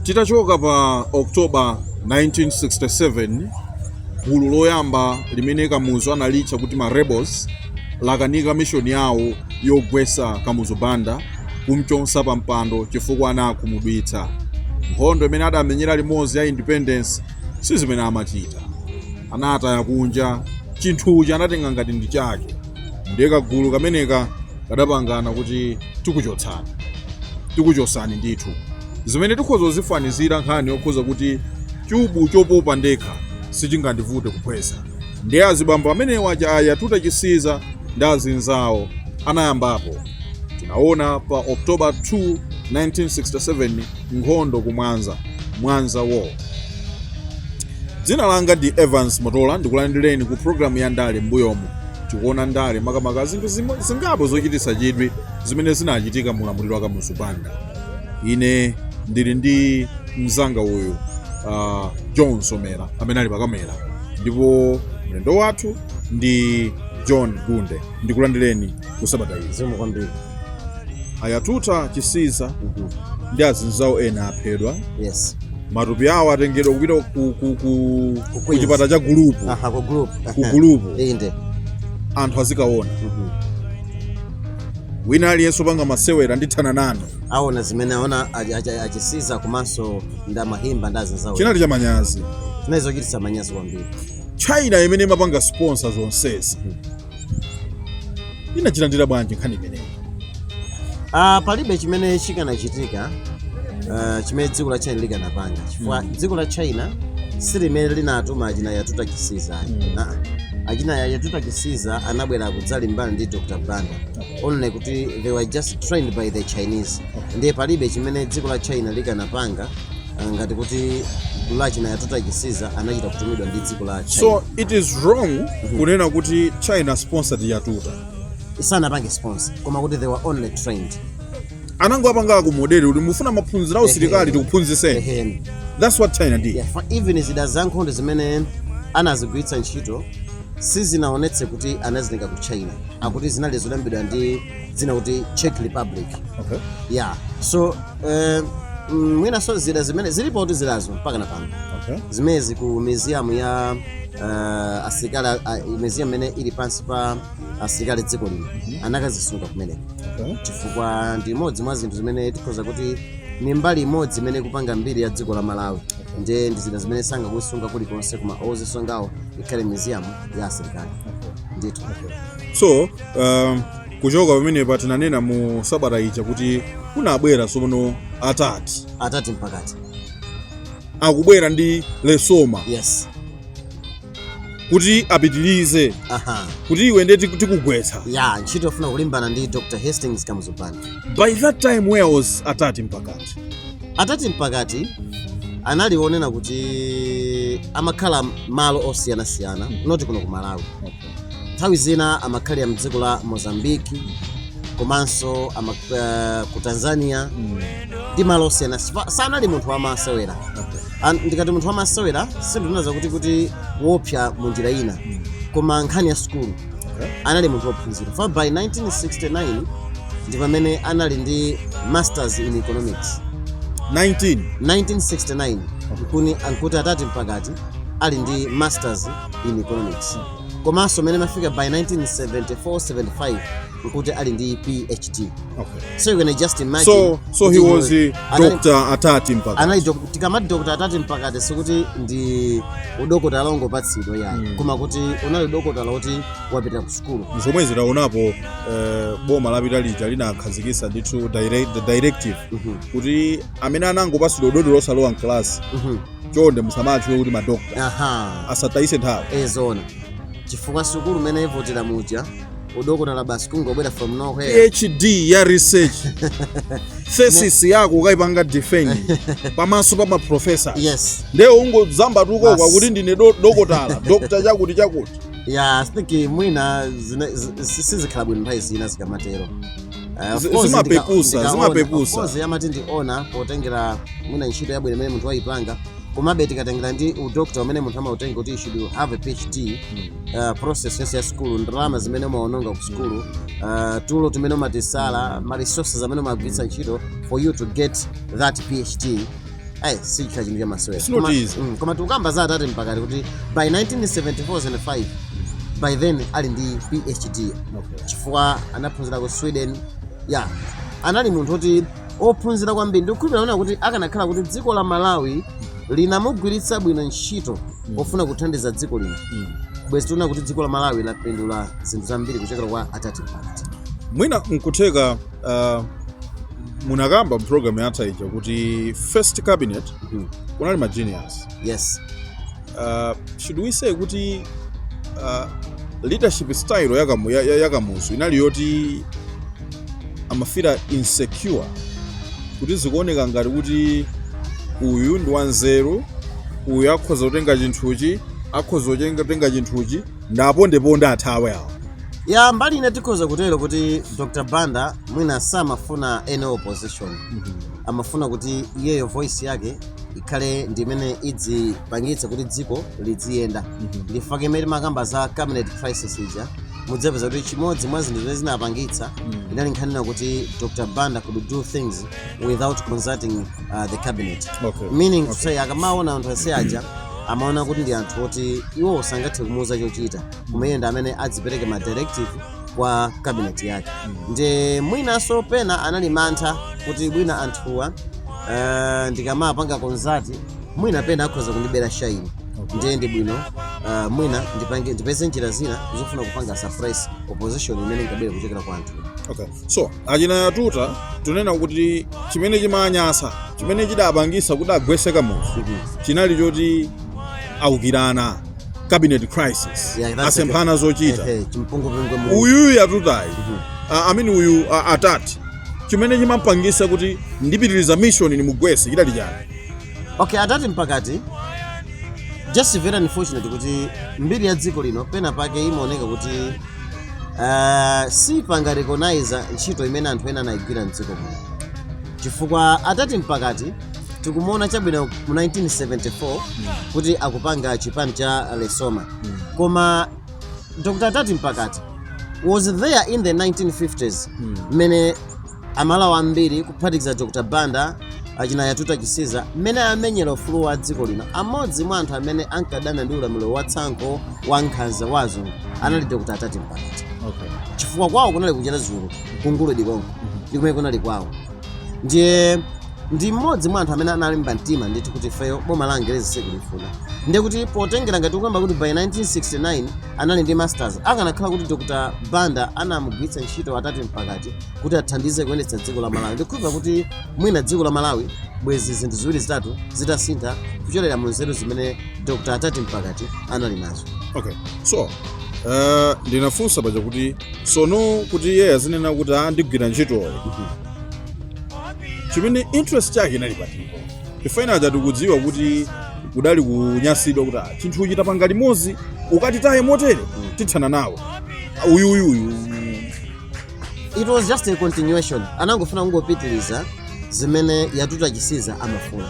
titachoka pa october 1967 gulu loyamba limene kamuzu analitcha kuti ma rebels lakanika mishoni yawo yogwesa kamuzu banda kumchotsa pa mpando chifukwa anawakhumudwitsa. Nkhondo imene adamenyera limodzi ya independence si zimene amachita. Anataya kunja chinthuchi anatenga ngati ndi chake. Ndiye kagulu kameneka kadapangana kuti tikuchotsani. Tikuchotsani ndithu. Zimene tikhoza kuzifanizira nkhani yokhoza kuti chubu chopopa ndekha sichingandivute kuphwesa. Ndiye azibambo amenewa achina yatuta chisiza ndi azinzawo anayambapo. Tinaona pa October 2, 1967 nkhondo ku Mwanza, Mwanza War. Dzina langa ndi Evans Motola ndikulandireni ku programu ya ndale m'mbuyomu. Tikuona ndale makamaka zinthu zimo- zingapo zochititsa chidwi zimene zinachitika mu ulamuliro wa Kamuzu Banda. Ine ndili ndi mzanga uyu uh, John Somera amene ali pakamera ndipo mlendo wathu ndi John Gunde. ndikulandireni ku sabata izi zikomo kwambiri ayatuta chisiza ndi azinzawo ena aphedwa yes matupi awo atengedwa kupita ku, ku, ku, ku Queens. chipatala cha gulupu aha ku group Ku group. inde anthu azikaona Mhm. wina aliyense opanga masewera ndithana nanu aona zimene aona achi- achi- achisiza komanso ndamahimba ndazinzawo chinali cha manyazi zimene zochititsa manyazi kwambiri China imene imapanga sponsor zonsezi inachilandira bwanji nkhani imeneyi? Ah, palibe chimene chikanachitika ah, chimene dziko la china likanapanga chifukwa dziko la china si limene linatuma achina yatuta chisiza Mm. Ah, achina ya- yatuta chisiza anabwera kudzalimbana ndi dr banda only kuti they were just trained by the chinese ndiye palibe chimene dziko la china likanapanga ah, ngati kuti gulu la achina yatuta chisiza anachita kutumidwa ndi dziko la china so it is wrong kunena kuti china sponsored yatuta isanapange sponsor koma kuti they were only trained anangowapanga akomodere kuti mufuna maphunziro a usilikali tikuphunzitseni Ehen. that's what china did Yeah, for even zida za nkhondo zimene anazigwiritsa ntchito sizinaonetse kuti anazitenga ku china akuti zinali zolembedwa ndi dzina kuti czech republic okay. yeah so eh, mm, mwinanso zida zimene zilipo kuti zidazo mpaka na pano okay. zimenezi ku museum ya uh, asilikali a- a- museum imene ili pansi pa asilikali dziko lino anakazisunga kumeneko okay. chifukwa ndi imodzi mwa zinthu zimene tikhoza kuti ni mbali imodzi imene ikupanga mbiri ya dziko la malawi nde ndi zida zimene sangazisunge kulikonse koma kozisungako ikhale museum ya asilikali ndithu so um, kuchoka pamenepa, tinanena mu sabata ija kuti kunabwera tsopano atati atati mpakati akubwera ndi lesoma yes kuti apitirize aha kuti iwe ndiye tiku- tikugwetsa yeah ntchito yofuna kulimbana ndi dr hastings kamuzu banda by that time where was atati mpakati atati mpakati analiponena kuti amakhala malo osiyanasiyana not kuno ku malawi nthawi zina amakhalira mdziko la mozambique komanso ama, uh, ku tanzania ndi malo osiyana Sipa- sanali munthu wamasewera An- ndikati munthu wamasewera sindikunena zakuti kuti wopsa mu njira ina koma nkhani ya sukulu anali munthu wophunzira for by 1969 ndi pamene anali ndi masters in economics 19 1969 nkuti nkuti atati mpakati ali ndi masters in economics komanso mmene imafika by 1974-75 nkuti ali ndi phd Okay. so you can just imagine So, so he kuti was iwe- a anali- doctor atati mpakati. anali dok- tikamati dokota atati mpakati sikuti ndi udokotala ongopatsidwa yayi Mm. koma kuti unali udokotala woti wapita ku sukulu zomwe tinaonapo eh, boma lapita lija linakhazikitsa ndithu direct- the directive Mhm, kuti amene anangopatsidwa udotolo osalowa mkalasi mhm. chonde musamatchule kuti madokta aha asatayise nthawi eee zoona chifukwa sukulu mmene ivutira muja udokotala basi kungobwera from nowhere phd ya research thesis yako ukayipanga defend pamaso pa maprofesa yes nde ungodzambatuka uko Basi. kuti ndine do- dokotala dokta chakuti chakuti yeah i think mwina zine- zi- si- sizikhala bwino nthawi zina zikamatero Eh, of Zi- course, zimapeputsa, ndika- ndikaona. zimapeputsa. Of course, amati ndi honor potengera mwina ntchito yabwino imene munthu wayipanga komabe tikatengera ndi udokta umene munthu amautenga kuti you should have a phd uh, process yonse ya sukulu ndalama zimene umaononga ku sukulu uh, tulo timene umatisala ma resources amene umagwiritsa ntchito for you to get that phd ayi sichikhala chinthu chamasewera It's not Koma- easy. mm, koma tikukamba za atati mpakati kuti by 1974-75 by then ali ndi phd Okay. chifukwa anaphunzira ku sweden ya anali munthu oti ophunzira kwambiri ndikukhulupira naona kuti akanakhala kuti dziko la malawi linamugwiritsa bwino ntchito pofuna kuthandiza dziko lino Mm. bwezi tiona kuti dziko la malawi lapindula zinthu zambiri kuchokera kwa atati mpakati mwina nkutheka uh, munakamba mprogramu yatha ija kuti first cabinet mm. kunali ma genius yes uh, should we say kuti uh, leadership style yakamu, ya, ya, yakamuzu inali yoti amafira insecure kuti zikuoneka ngati kuti uyu ndi wanzeru uyu akhoza kutenga chinthuchi akhoza kutenga chinthuchi Ndapondeponde athawe awa. ya mbali ina tikhoza kutero kuti dr banda mwina samafuna any opposition amafuna kuti iyeyo voice yake ikhale ndi imene idzipangitsa kuti dziko lidziyenda ndifake mmene timakamba za cabinet crisis ija mudzapeza kuti chimodzi mwa zinthu zimene zinapangitsa inali nkhani yonena kuti dr banda could do things without consulting uh, the cabinet Okay. meaning to say akamaona anthu onse aja amaona kuti ndi anthu oti iwo sangathe kumuuza chochita koma iye ndi amene adzipereke ma directive kwa cabinet yake ndiye mwinanso pena anali mantha kuti mwina anthuwa uh, ndikamawapanga consult mwina pena akhoza kundibera shine ndiye ndi bwino uh, mwina ndipange ndipeze njira zina zofuna kupanga suppress opposition imene ingabwere kuchokera kwa anthu Okay. so achina yatuta tunena kuti chimene chimanyasa chimene chidapangisa kuti agwese kamuzu chinali choti aukirana cabinet crisis Yeah, that's asemphana zochita Eh, eh, chimpungwepungwe mu- uyuyu yatutayi a- amene uyu a- atati chimene chimampangisa kuti ndipitiriza mission nimugwese chidali chani okay atati mpakati just very unfortunate kuti mbiri ya dziko lino pena pake imaoneka kuti uh, sipanga recognize ntchito imene anthu ena anayigwira mdziko muno chifukwa atati mpakati tikumuona chabwino mu 1974 kuti akupanga chipani cha lesoma koma dr atati mpakati was there in the 1950s mmene Amalawi ambiri kuphatikiza Dr Banda, achina Yatuta Chisiza mmene amenyera ufulu wa dziko lino amodzi mwa anthu amene ankadana ndi ulamuliro wa tsankho wa nkhanza wa azungu anali Dr Atati Mpakati Okay. chifukwa kwawo kunali ku Chiradzulu ku Nguludi konko ndi kumene kunali kwawo ndiye ndi mmodzi mwa anthu amene analimba mtima ndithu kuti ifeyo boma la angerezi sitikulifuna ndiye kuti potengera ngati tikukamba kuti by 1969 anali ndi masters akanakhala kuti dr banda anamugwiritsa ntchito atati mpakati kuti athandize kuyendetsa dziko la malawi ndikukhulupirira kuti mwina dziko la malawi bwezi zinthu ziwiri zitatu zitasintha kuchokera mu nzeru zimene dr attati mpakati anali nazo okay so uh, ndinafunsa paja kuti sono kuti iye azinena kuti ndigwira ntchitoyo chimene interest yake inali pati poti ife ena aja tikudziwa kuti kudali kunyasidwa kuti ah, chinthu ichi tapanga limodzi ukatitaye motere tithana nawo uyuyuyu it was just a continuation anangofuna kungopitiriza zimene yatuta chisiza amafuna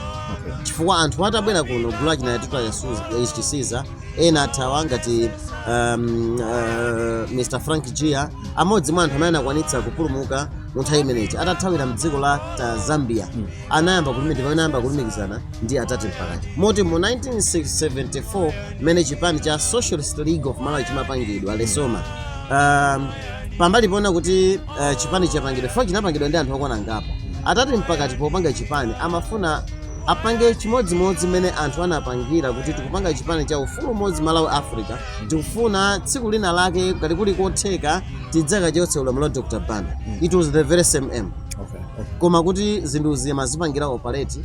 chifukwa anthu atabwera kuno gulu la achina yatuta Yasu- chisiza ena athawa ngati um, uh, mr frank jiya amodzi mwa anthu amene anakwanitsa kupulumuka mu nthawi imeneyi atathawira mdziko la ta zambia anayamba kulumikizana pamene anayamba kulumikizana ndi attati mpakati moti mu 1974 mmene chipani cha socialist league of malawi chimapangidwa lesoma um, pambali poona kuti uh, chipani chapangidwa fomu chinapangidwa ndi anthu okwana ngapo attati mpakati popanga chipani amafuna apange chimodzimodzi mmene anthu anapangira kuti tikupanga chipani cha ufulu umodzi malawi africa tikufuna tsiku lina lake ngati kuli kotheka tidzakachotse ulamuliro wa dr banda it was the very same aim Okay. koma kuti zinthu azizipangira operate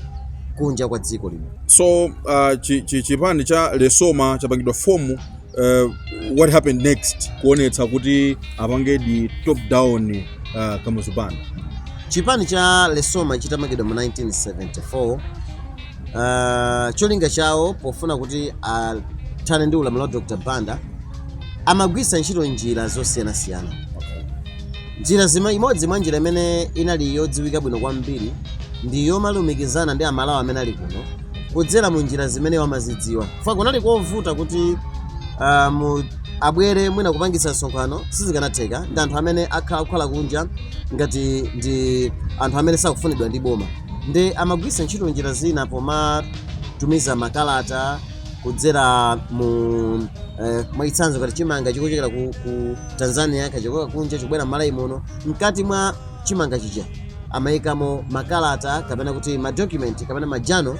kunja kwa dziko lino so uh, chi, chi, chipani cha lesoma chapangidwa fomu uh, what happened next kuonetsa kuti apange topple down uh, kamuzu banda chipani cha lesoma chitamangidwa mu 1974 uh, cholinga chawo pofuna kuti athane ndi ulamuliro wa dr banda amagwiritsa ntchito njira zosiyanasiyana Njira zime, Imodzi mwa njira imene inali yodziwika bwino kwambiri ndi yomalumikizana ndi amalawi amene ali kuno kudzera mu njira zimene iwo amazidziwa chifukwa kunali kovuta kuti ah, mu abwere mwina kupangitsa msonkhano sizikanatheka ndi anthu amene akhala kukhala kunja ngati ndi anthu amene sakufunidwa ndi boma ndiye amagwiritsa ntchito njira zina pomatumiza makalata kudzera mu eh, mwachitsanzo ngati chimanga chikuchokera ku, ku tanzania kuchokera kunja chikubwera mmalawi muno mkati mwa chimanga chija amayikamo makalata kapena kuti madocument kapena majano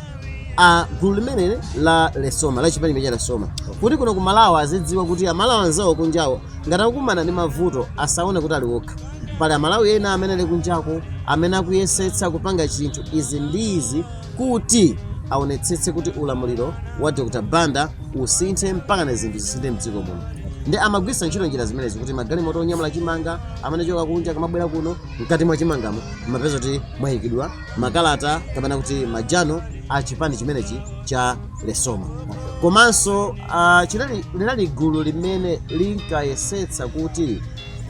a gulu limeneli la lesoma la chipani cha lesoma kuti kuno ku malawi azidziwa kuti amalawi anzawo kunjako ngati akukumana ndi mavuto asaone kuti ali okha pali amalawi ena amene ali kunjako amene akuyesetsa kupanga chinthu izi ndi izi kuti aonetsetse kuti ulamuliro wa Dr Banda usinthe mpakana zinthu zisinthe mdziko muno ndiye amagwiritsa ntchito njira zimenezi kuti magalimoto onyamula chimanga amene achoka kunja akamabwera kuno mkati mwa chimangamo mumapeza kuti mwayikidwa makalata kapena kuti majano a chipani chimenechi cha lesoma komanso ah, chinali linali gulu limene linkayesetsa kuti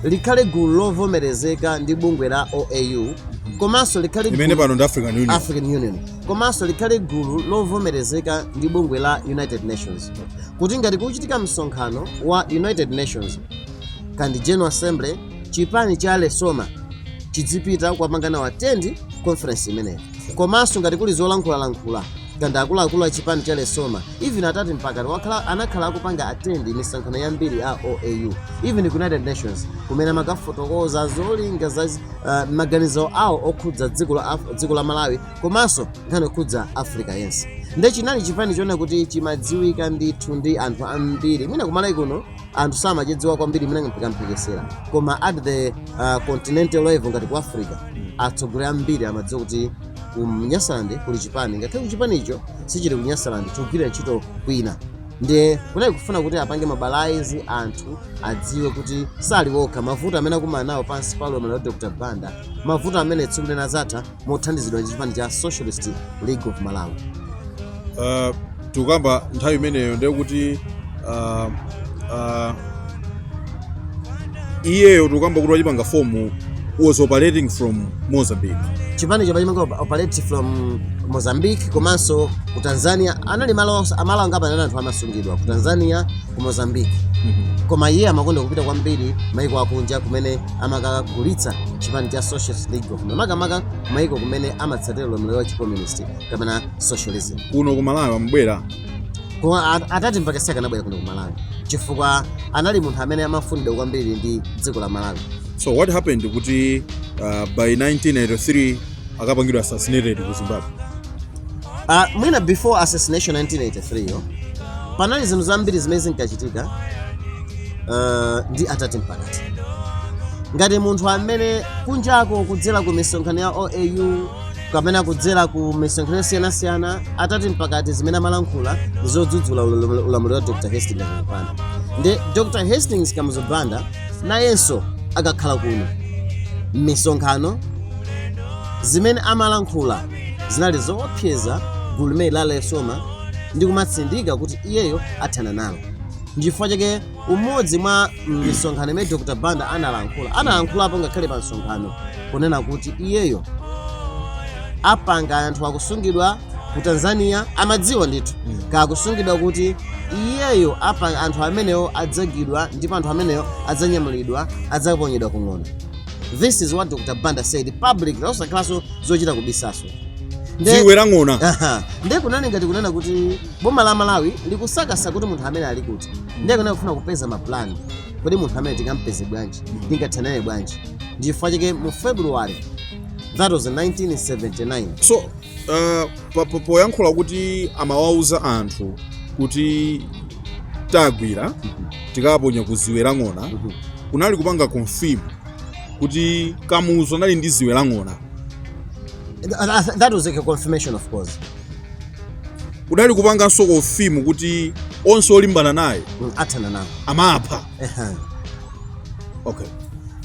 likhale gulu lovomerezeka ndi bungwe la oau komanso likhale imene gulu- pano ndi african union african union komanso likhale gulu lovomerezeka ndi bungwe la united nations kuti ngati kuchitika msonkhano wa united nations kaya ndi general assembly chipani cha lesoma chidzipita kukapanga nawo attend conference imeneyi komanso ngati kuli zolankhulalankhula kaya ndi akuluakulu a chipani cha lesoma even atati mpakati wakhala anakhala akupanga attend misonkhano yambiri a oau even ku united nations kumene amakafotokoza zolinga za uh, maganizo awo okhudza dziko la, Af- dziko la malawi komanso nkhani okhudza africa yense nde chinali chipani choona kuti chimadziwika ndithu ndi anthu ambiri mwina kumalawi kuno anthu samachidziwa kwambiri mwina kamphekesera koma at the uh, continental level ngati ku africa atsogoleri ambiri amadziwa kuti ku nyasaland kuli chipani ngakhale kuti chipanicho sichili ku nyasaland chikugwirira ntchito kwina ndiye kunali kufuna kuti apange mobilize anthu adziwe kuti sali okha mavuto amene akumana nawo pansi pa ulamuliro wa dr banda mavuto amene tsiku lina adzatha mothandizidwa ndi chipani cha socialist league of malawi uh, tikukamba nthawi imeneyo ndiye kuti uh, uh, iyeyo tikukamba kuti wachipanga form was operating from mozambique chipanicho chimapanga operate from mozambique komanso ku tanzania anali malo onse- amalo angapo anali anthu amasungidwa ku tanzania ku mozambique koma iye amakonda kupita kwambiri maiko akunja kumene amakagulitsa chipani cha socialist league dziko kuno makamaka kumayiko kumene amatsatira ulamuliro wa chicommunist kapena socialism kuno ku malawi amabwera koma a- atati mpakati sakanabwera kuno ku malawi chifukwa anali munthu amene amafunidwa kwambiri ndi dziko la malawi so what happened kuti uh, by 1983 akapangidwa assassinated ku zimbabwe Ah, mwina before assassination 1983 yo panali zinthu zambiri zimene zinkachitika ah, ndi atati mpakati ngati munthu amene kunjako kudzera ku misonkhano ya oau kapena kudzera ku misonkhano yosiyanasiyana atati mpakati zimene amalankhula ndi zodzudzula ulam- ulamuliro wa dr hastings kamuzu banda ndi dr hastings kamuzu banda nayenso akakhala kuno m'misonkhano zimene amalankhula Zinali zoopseza gulu limeneli la Lesoma ndi kumatsindika kuti iyeyo athana nalo. Ndichifukwa chake umodzi mwa misonkhano imene Dr. Banda analankhula, analankhulapo ngakhale pa msonkhano kunena kuti iyeyo apanga anthu akusungidwa ku Tanzania amadziwa ndithu mm. kuti akusungidwa kuti iyeyo apa anthu amenewo adzagwidwa ndipo anthu amenewo adzanyamulidwa adzaponyedwa ku ng'ona this is what dr banda said publicly osakhalanso zochita kubisanso dziwe la ng'ona Aha. ndiye kunali ngati kunena kuti boma la malawi likusakasa kuti munthu amene ali kuti ndiye kunena kufuna kupeza mapulani kodi munthu amene tingampeze bwanji tingathanane bwanji ndichifukwa chake mu february that was 1979 so uh, pa- pa- poyankhula kuti amawauza anthu kuti tagwira tikaponya ku ziwe la ng'ona kunali kupanga confirm kuti kamuzu anali ndi ziwe la ng'ona That- that- that was like a confirmation of course kunali kupanganso confirm kuti onse olimbana naye athana nawo amapha Ehem. okay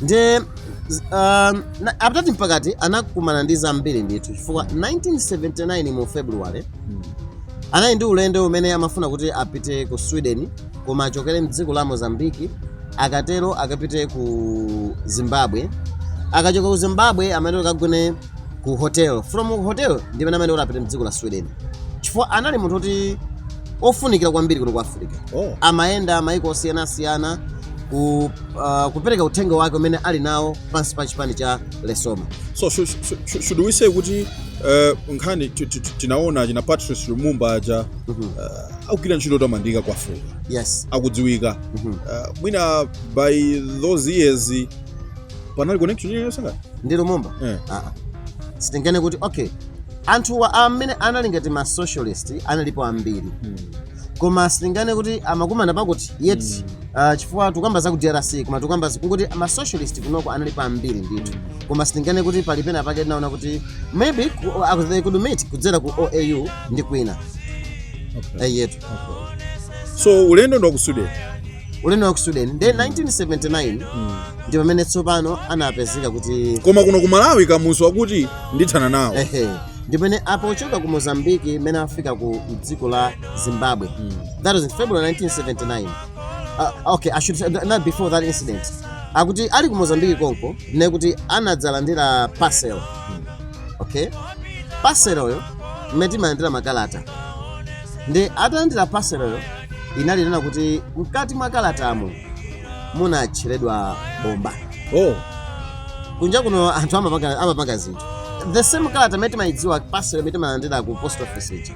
nde z- um, na- attati mpakati anakumana ndi zambiri ndithu chifukwa 1979 mu february Mm. anali ndi ulendo umene amafuna kuti apite ku sweden koma achokere mdziko la mozambiki akatero akapite ku zimbabwe akachoka ku zimbabwe amene akagone ku hotel from hotel ndimene amene kuti apite mdziko la sweden chifukwa anali munthu kuti ofunikira kwambiri kuno ku africa oh. amayenda maiko osiyanasiyana ku, uh, kupereka uthenga wake umene ali nawo pansi pa chipani cha lesoma so should, should, should we say kuti uh, nkhani tinaona achina patrice lumumba aja mm -hmm. uh, akugwira ntchito yotamandika ku africa yes akudziwika mm -hmm. uh, mwina by those years panali connection yosangana ndi lumumba yeah. uh -uh. sitinganene kuti okay Anthu amene anali ngati ma socialist analipo ambiri koma sitinganene kuti amakumana pakuti yet uh, chifukwa tukamba za ku drc koma tukamba zi- kuti ma socialist kunoko analipo ambiri ndithu koma sitinganene kuti pali pena pake tinaona kuti maybe ku- uh, they could meet kudzera ku oau ndi kwina okay. Eyetu okay. so ulendo ndi wa ku sweden ulendo wa ku sweden nde 1979 ndi pamene tsopano anapezeka kuti koma kuno ku malawi kamuzu akuti ndithana nawo ehe ndi pamene apa pochoka ku mozambiki mmene afika ku dziko la zimbabwe that was in february 1979 uh, okay i should say, not before that incident akuti ali ku mozambiki konko ndiye kuti anadzalandira parcel okay parcel yo mmene timalandira makalata nde atalandira parcel yo inali kunena kuti mkati mwa kalatamo munatcheredwa bomba oh kunja kuno anthu amapanga amapanga zinthu the same kalata imene timayidziwa parcel imene timalandira ku post office ija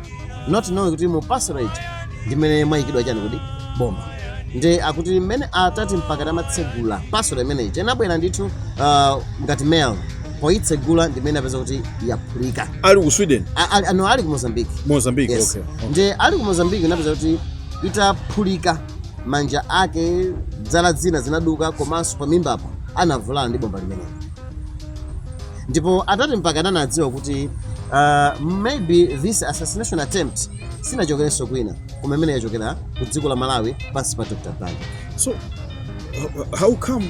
not knowing kuti mu parcel ija ndimene mwayikidwa chani kuti bomba nde akuti mmene attati mpakati amatsegula parcel imene ija inabwera ndithu uh, ngati mail poyitsegula ndimene anapeza kuti yaphulika ali ku sweden A- ali- ano ali ku mozambique mozambique yes okay okay. nde ali ku mozambique anapeza kuti itaphulika manja ake zala zina zinaduka komanso pamimbapo anavulala ndi bomba limeneli ndipo atati mpaka anadziwa kuti uh, maybe this assassination attempt sinachokerenso kwina koma imene yachokera ku dziko la malawi pansi pa dr banda so how come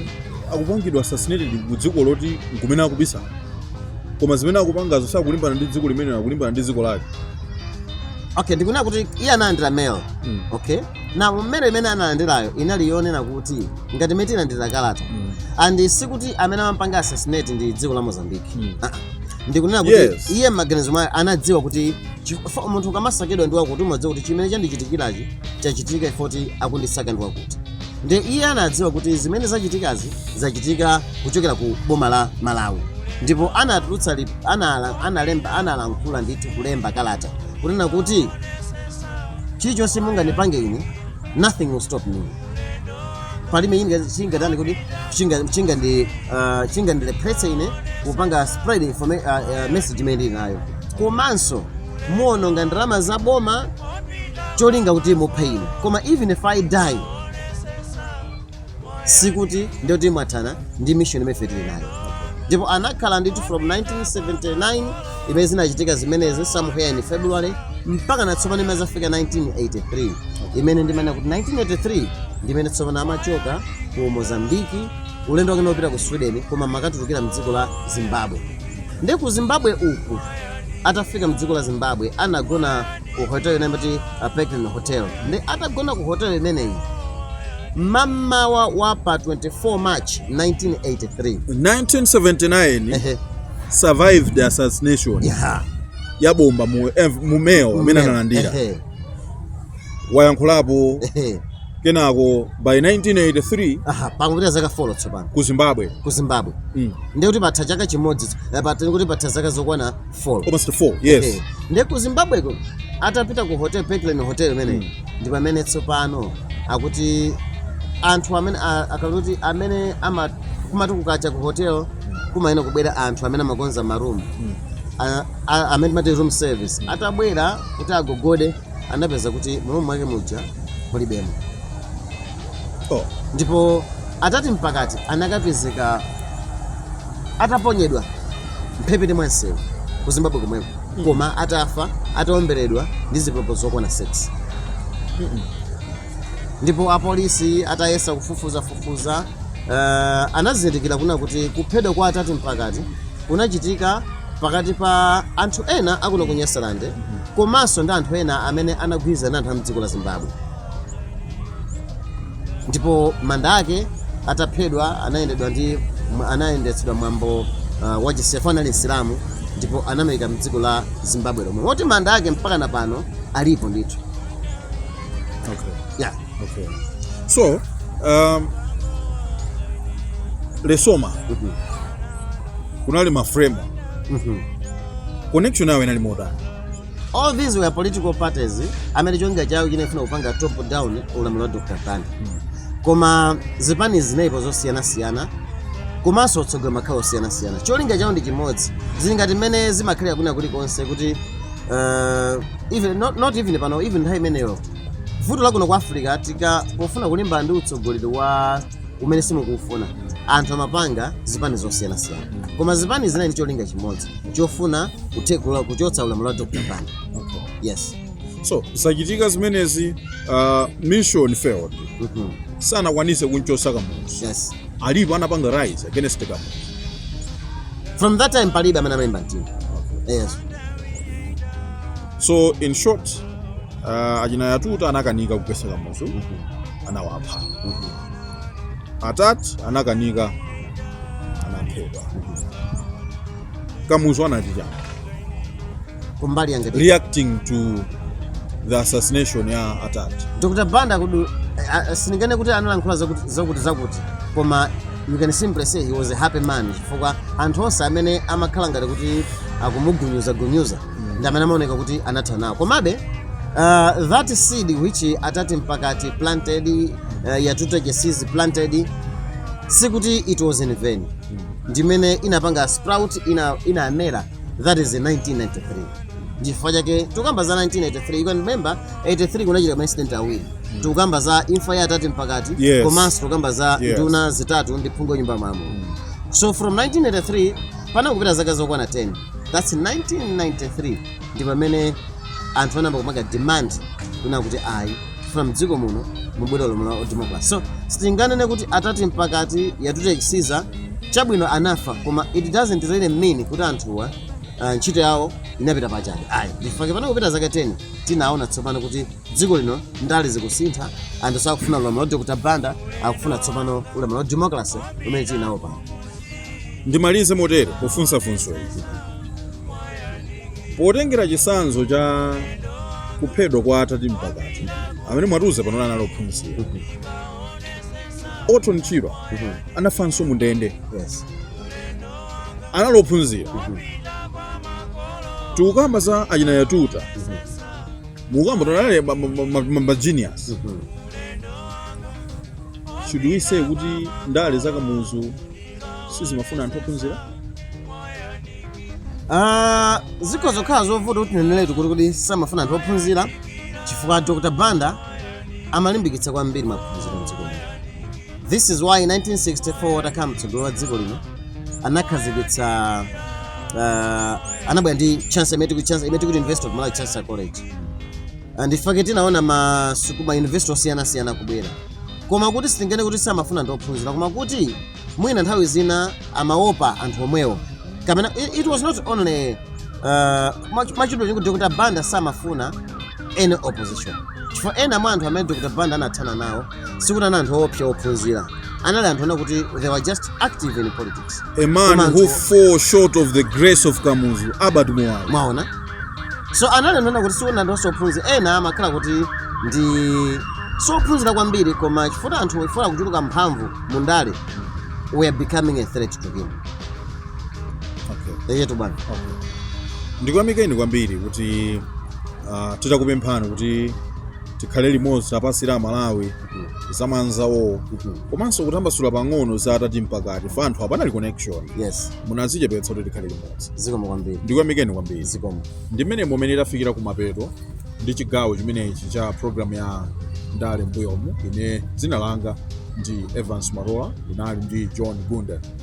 akupangidwa assassinated ku dziko loti nkumene akubisala koma zimene akupangazo sakulimbana ndi dziko limene akulimbana ndi dziko lake okay ndikunena kuti iye analandira mail Mm. okay nde mail imene analandirayo inali yoonera kuti ngati mmene timalandira kalata Mm. and sikuti amene amampanga assassinate ndi dziko la mozambique Mm. Ah, ah. ndikunena kuti Yes. iye m'maganizo mwakemo anadziwa kuti chi- fo- munthu ukamasakidwa ndi wakuti umadziwa kuti chimene chandichitikirachi chachitika chifoti akundisaka ndi wakuti nde iye anadziwa kuti zimene zachitikazi zachitika kuchokera ku boma la malawi ndipo anatulutsa li- anala- analemba analankhula ndithu kulemba kalata kunena kuti chilichonse munganipange ine nothing will stop me palibe chimene chingatani kuti chinga- chingandi- ah, chingandilepheretse ine kupanga spread informa- ah, ah, message imene ndili nayo komanso muononga ndalama za boma cholinga kuti muphe ine koma even if i die sikuti ndiye kuti mwathana ndi mission imene ife tili nayo ndipo anakhala ndithu from 1979 imene zinachitika zimenezi somewhere in february mpaka na tsopano imene zafika 1983 imene ndimanena kuti 1983 ndimene tsopano amachoka ku mozambiki ulendo wake wopita ku sweden koma amakatulukira mdziko la zimbabwe nde ku zimbabwe uku atafika mdziko la Zimbabwe anagona ku hotel ina imati Pekin Hotel nde atagona ku hotel imeneyi mmamawa wa pa 24 March 1983 1979 Ehe. survived assassination Yeah. ya bomba mu, eh, mu mail imene analandira Ehe. wayankhulapo Ehe. kenako by 1983 aha pangopita zaka folo tsopano ku zimbabwe ku zimbabwe mm. ndiye kuti patha chaka chimodzi eh, patha kuti patha zaka zokwana folo almost 4 yes Eh, ndiye ku zimbabweko atapita ku hotel Parkland hotel imeneyi ndi pamene tsopano akuti anthu amene a- akaluti amene ama kumati kukacha ku hotel kumayenera kubwera anthu amene amakonza maroom a- a- amene timati room service atabwera kuti agogode anapeza kuti mu room mwake muja mulibemo oh. ndipo atati mpakati anakapezeka ataponyedwa mphepete mwa msewu ku zimbabwe komweko mm. koma atafa ataomberedwa ndi zipolopolo zokwana 6 mm -mm. ndipo apolisi atayesa kufufuza fufuza uh, eh, anazindikira kunena kuti kuphedwa kwa atati mpakati kunachitika pakati pa anthu ena akuno ku nyasalande mm -hmm. komanso ndi anthu ena amene anagwirizana ndi anthu a m'dziko la Zimbabwe. Ndipo manda ake ataphedwa anayendedwa ndi mwa- anayendetsedwa mwambo uh, wa Chisefa anali Msilamu ndipo anamuyika m'dziko la Zimbabwe lomwe. Moti manda ake mpaka na pano alipo ndithu. Okay. Yeah. Okay. So, um, Lesoma Mhm. kunali Mafremo connection yawo inali motani all these were political parties amene cholinga chawo chinafuna kupanga top down ulamuliro wa dr banda koma zipani zinalipo zosiyanasiyana komanso otsogolera amakhala osiyanasiyana cholinga chawo ndi chimodzi zili ngati mmene zimakhalira kwina kulikonse kuti uh, even, not, not even pano even nthawi imeneyo vuto lakuno ku africa tika pofuna kulimbana ndi utsogoleri wa umene simukuufuna anthu amapanga zipani zosiyanasiyana koma zipani zinali ndi cholinga chimodzi chofuna kuthekula kuchotsa ulamuliro wa dr banda Okay. yes so zachitika zimenezi uh, mission failed Mhm. sanakwanise kumchotsa kamuzu yes alipo anapanga rise against kamuzu from that time palibe amene amalimba mtima yes so in short Ah, achina yatuta anakanika kugwetsa kamuzu anawapha atati anakanika anaphedwa kamuzu anati chani kumbali yake reacting to the assassination ya atati dr banda kudu uh, sininganene kuti analankhula zakuti zakuti zakuti koma you can simply say he was a happy man chifukwa anthu onse amene amakhala ngati kuti akumugunyuza gunyuza ndi amene amaoneka kuti anatha nawo komabe uh, that seed which atati mpakati planted uh, yatuta chisiza planted sikuti it was in vain ndimene inapanga sprout ina, inamera that is in 1993 ndichifukwa chake tikukamba za 1983 you can remember 83 kunachitika maincident awiri tikukamba za imfa ya atati mpakati Yes. komanso tikukamba za Yes. nduna zitatu ndi phungu wa nyumba ya malamulo so from 1983 panakupita zaka zokwana 10 thats 1993 ndi pamene anthu anayamba kupanga demand kunena kuti ayi tikufuna mdziko muno mubwere ulamuliro wa democracy so sitinganene kuti attati mpakati yatuta chisiza chabwino anafa koma it doesn't really mean kuti anthuwa uh, ntchito yawo inapita pachabe ayi ndifake pano kupita zaka 10 tinaona tsopano kuti dziko lino ndale zikusintha anthu sakufuna ulamuliro wa dr banda akufuna tsopano ulamuliro wa democracy umene tinawo pano Ndimalize motere pofunsa funso ili. Potengera chitsanzo cha kuphedwa kwa Attati Mpakati, amene mwatiuza pano kuti anali ophunzira, Orton Chirwa anafanso mu ndende, Yes. anali ophunzira. Tikukamba za achina Yatuta, mukamba kuti anali ma genius should we say kuti ndale za kamuzu sizimafuna anthu ophunzira Ah, zikhoza kukhala zovuta kuti tineneretu kuti kuti samafuna anthu ophunzira chifukwa dr banda amalimbikitsa kwambiri maphunziro mdziko muno This is why 1964 atakhala mtsogoleri wa dziko lino anakhazikitsa uh, anabwera ndi chance imene tikuti chance imene tikuti University of Malawi Chancellor College and in fact tinaona masukulu ma university osiyana siyana kubwera koma kuti sitinganene kuti samafuna anthu ophunzira koma kuti mwina nthawi zina amaopa anthu omwewo kapena it, it was not only uh, mwachidule kuti Dr. Banda samafuna any opposition chifukwa ena mwa anthu amene Dr. Banda anathana nawo sikuti anali anthu oopsa ophunzira anali anthu onena kuti they were just active in politics a man Koma who anthu- fall short of the grace of kamuzu albert muwalo mwaona so anali anthu onena kuti sikuti anthu onse ophunzira ena amakhala kuti ndi osaphunzira kwambiri koma chifukwa anthu chifukwa kuchuluka mphamvu mu ndale were becoming a threat to him okay. eyetu bwana ndikuyamikeni kwambiri kuti uh, titakupemphani kuti tikhale limodzi lapansi la malawi zamanza wo komanso kutambasula pang'ono za attati mpakati chifukwa anthu apanali connection yes munadzichepetsa kuti tikhale limodzi zikomo kwambiri ndikuyamikeni kwambiri zikomo ndi mmenemo mmene tafikira kumapeto ndi chigawo chimenechi cha programu ya ndale mbuyomu ine dzina langa ndi evans marola ndinali ndi john gunda